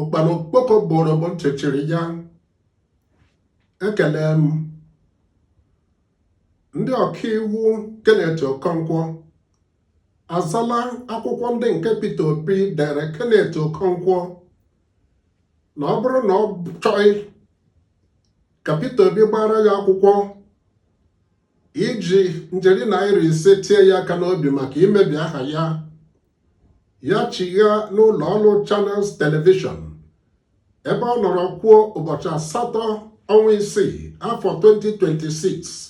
ụkpana okpoko gburu bụ ntị chiri ya ekele m ndị ọkaiwu Kenneth Okonkwo azala akwụkwọ ndị nke Peter Obi dere Kenneth Okonkwo na ọ bụrụ na ọ chọghị ka Peter Obi gbara ya akwụkwọ iji njeri naira ise tie ya aka n'obi maka imebi aha ya ya chigha n'ụlọ ọrụ Channels Television ebe ọ nọrọ kwuo ụbọchị asatọ ọnwa isii afọ 2026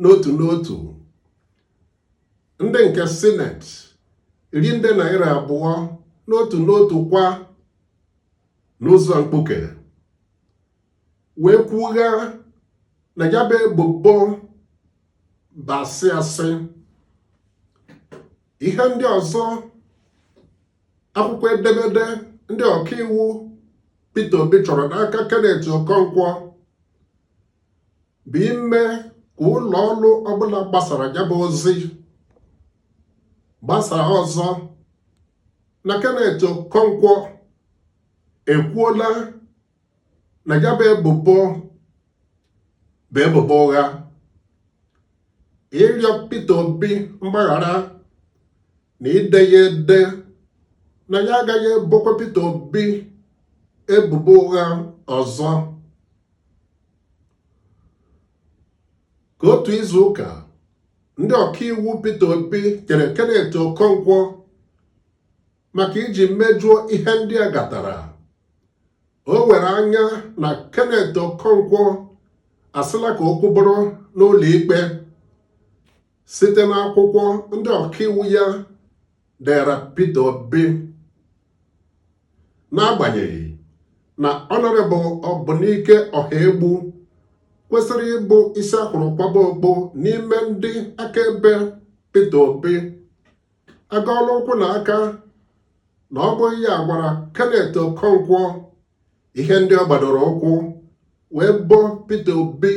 n'otu n'otu ndị nke sineti iri nde naira abụọ n'otu n'otu kwa n'ụzọ mkpuke wee kwugha na ya bụ ebubo bụ asị asị ihe ndị ọzọ akwụkwọ edemede ndị ọkaiwu Peter Obi chọrọ n'aka Kenneth Okonkwo bụ ime ka ụlọ ọrụ ọbụla gbasara ya bụ ozi gbasara ọzọ na Kenneth Okonkwo ekwuola na ya bụ ebubo bụ ebubo ụgha ịrịọ Peter Obi mgbaghara na ide ya ede na ya agaghị ebokwa Peter Obi ebubo ụgha ọzọ ka otu izu ụka ndị ọkaiwu Peter Obi kere Kenneth Okonkwo maka iji mejuo ihe ndị a gatara o were anya na Kenneth Okonkwo asịla ka okwu bụrụ n'ụlọ ikpe site n'akwụkwọ ndị ọkaiwu ya dere Peter Obi n'agbanyeghị na Honourable Ọbụnike Ọhaegbu kwesịrị ịbụ isi a hụrụ kwaba okpu n'ime ndị akaebe Peter Obi agọọla ụkwụ na aka na ọ bụghị ya gwara Kenneth Okonkwo ihe ndị ọ gbadoro ụkwụ wee bo Peter Obi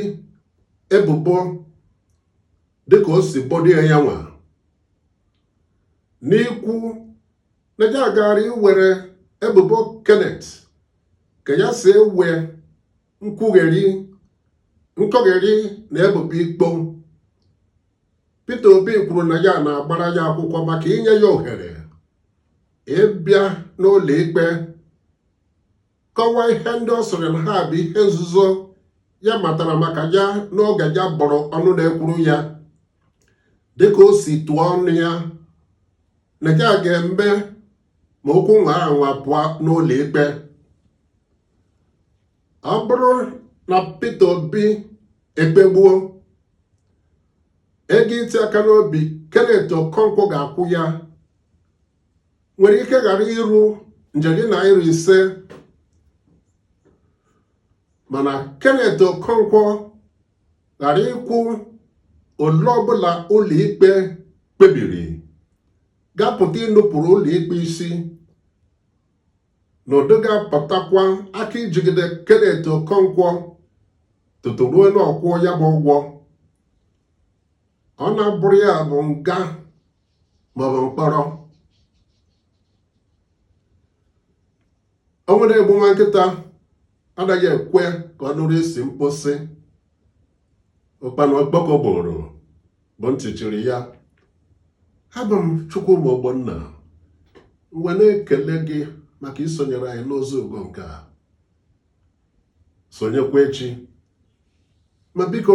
ebubo dịka o si bodo ya nwa n'ikwu na ya gaara iwere ebubo Kenneth ka ya si ewe nkwugheri nkọgheri na ebubo ikpo Peter Obi kwuru na ya na-agbara ya akwụkwọ maka inye ya ohere ịbịa n'ụlọ ikpe kọwaa ihe ndị ọ sịrị na ha bụ ihe nzuzo ya matara maka ya n'oge ya bụụrụ ọnụ na-ekwuru ya dịka o si tụọ ọnụ ya na ya ga-eme ma okwu nwaa anwa pụọ n'ụlọ ikpe ọ bụrụ na Peter Obi ekpegbuo ego iti aka n'obi Kenneth Okonkwo ga-akwụ ya nwere ike ghara iru njeri naịra ise mana Kenneth Okonkwo ghara ịkwụ ole ọbụla ụlọikpe kpebiri ga-apụta inupụrụ ụlọikpe isi n'ụdị ga-apụtakwa aka ijigide Kenneth Okonkwo tutu ruo na ọ kwụọ ya bụ ụgwọ ọ na-abụrụ ya bụ nga maọbụ mkpọrọ ọnwụ na-egbu nwa nkịta anaghị ekwe ka ọ nụrụ isi mkposi ụkpana okpoko gburu bụ ntị chiri ya abụ m Chukwuma Ogbonna m wee na-ekele gị maka isonyere anyị n'ozi ugo nke a sonyekwa echi ma biko